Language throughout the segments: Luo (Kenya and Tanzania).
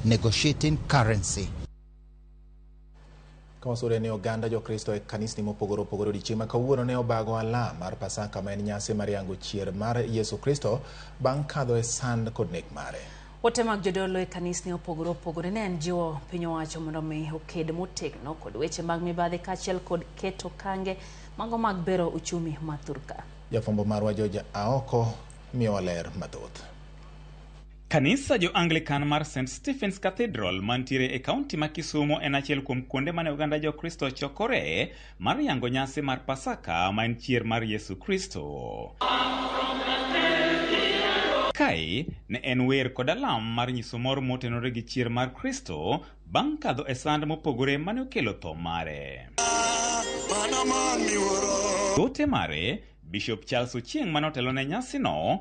negotiating currency. Kawasore ni oganda jokristo e kanisni mopogore opogore odiechieng' ma kawuono ne obago alam mar Pasaka ma en nyasi mar yango chier mar Yesu Kristo bang' kadho e sand kod nek mare. Ote mag jodolo e kanisni opogore opogore ne en jiwo piny owacho mondo omi oked motegno kod weche mag mibadhi kaachiel kod keto kange mago mag bero uchumi ma thurka. Jafwambo marwa George Aoko miyowa ler mathoth. Kanisa jo Anglican mar St. Stephen's Cathedral mantiere e kaunti ma Kisumo en achiel kuom kuonde mane oganda jo Kristo chokore mar yango nyasi mar Pasaka ma en chier mar Yesu Kristo. Kae ne en wer kod alam mar nyiso mor motenore gi chier mar Kristo bang' kadho e sand mopogore mane okelo tho mare. Mana man miwuoro. Ote mare, Bishop Charles Ochieng' mane otelo ne nyasino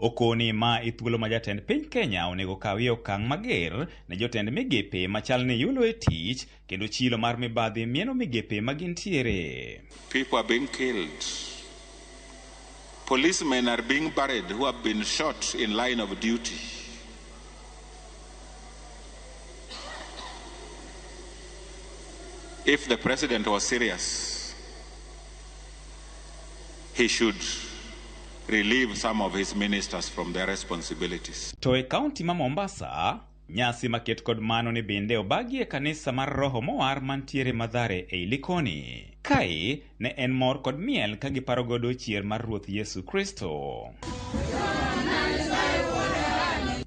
Okoni ma e thuolo ma jatend piny Kenya onego kawie okang' mager ne jotend migepe machal ni yulo e tich kendo chilo mar mibadhi mieno migepe ma gintiere. People are being killed. Policemen are being buried who have been shot in line of duty. If the president was serious, he should relieve some of his ministers from their responsibilities. To e kaunti ma Mombasa, nyasi maket kod mano ni bende obagi e kanisa mar Roho Mowar mantiere Madhare ei Likoni. Kae ne en mor kod miel ka giparo godo chier mar Ruoth Yesu Kristo.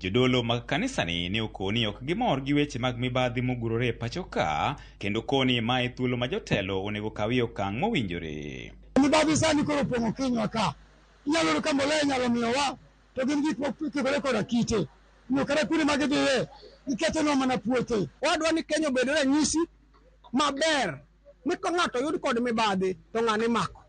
Jodolo mag kanisani ne okoni ok gimor gi weche mag mibadhi mogurore e pachoka Kendo koni ma e thuolo ma jotelo onego kawie okang' mowinjore. Mibadhi sani koro opong'o kinywa ka. Inyalo yudo ka mbolea inyalo miyowa to gin gik mokikore koda kite. Omiyo kata kuonde ma gidhiye, gikethonwa mana puothe. Wadwa ni Kenya obed ranyisi maber ni ka ng'ato oyud kod mibadhi to ng'ane imako.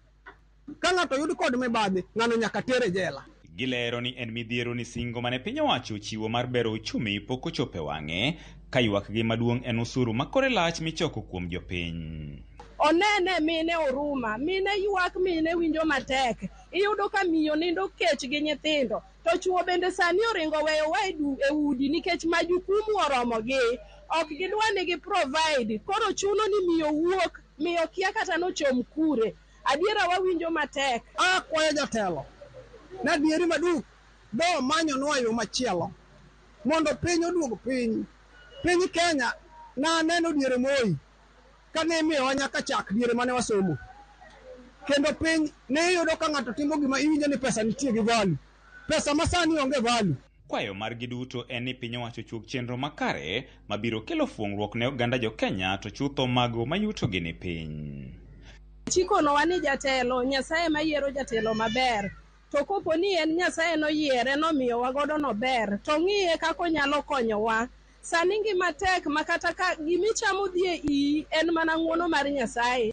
Ka ng'ato oyud kod mibadhi, ng'ano nyaka ter e jela. Gilero ni en midhiero ni singo mane piny owacho ochiwo mar bero uchumi pok ochop e wang'e, ka ywakgi maduong' en usuru ma kore lach michoko kuom jopiny. Onene mine oruma, mine ywak mine winjo matek. Iyudo ka miyo nindo kech gi nyithindo. To chuo bende sani oringo oweyowa e du e udi nikech majukumu oromogi. Ok gidwa ni gi provide. Koro chuno ni miyo wuok. Miyo kia kata nochom kure. Adiera wawinjo matek. Akwayo jatelo ni adieri maduk do manyonwa yo machielo mondo piny oduog piny. Piny Kenya na aneno diere Moi kane imiyowa nyaka chak diere mane wasomo kendo piny ne iyudo ka ng'ato timo gima iwinjo ni pesa nitie gi value. Pesa masani onge value. Kwayo margi duto en ni piny owacho ochuog chenro makare mabiro kelo fuong'ruok ne oganda jo Kenya to chutho mago mayutogi ni piny. Chikonowa ni jatelo, Nyasaye ema yiero jatelo maber. To kopo ni en Nyasaye noyiere nomiyowa godo nober, to ong'iye kaka onyalo konyowa. Sani ngima tek makata ka gimichamo dhi e iyi en mana ng'uono mar Nyasaye.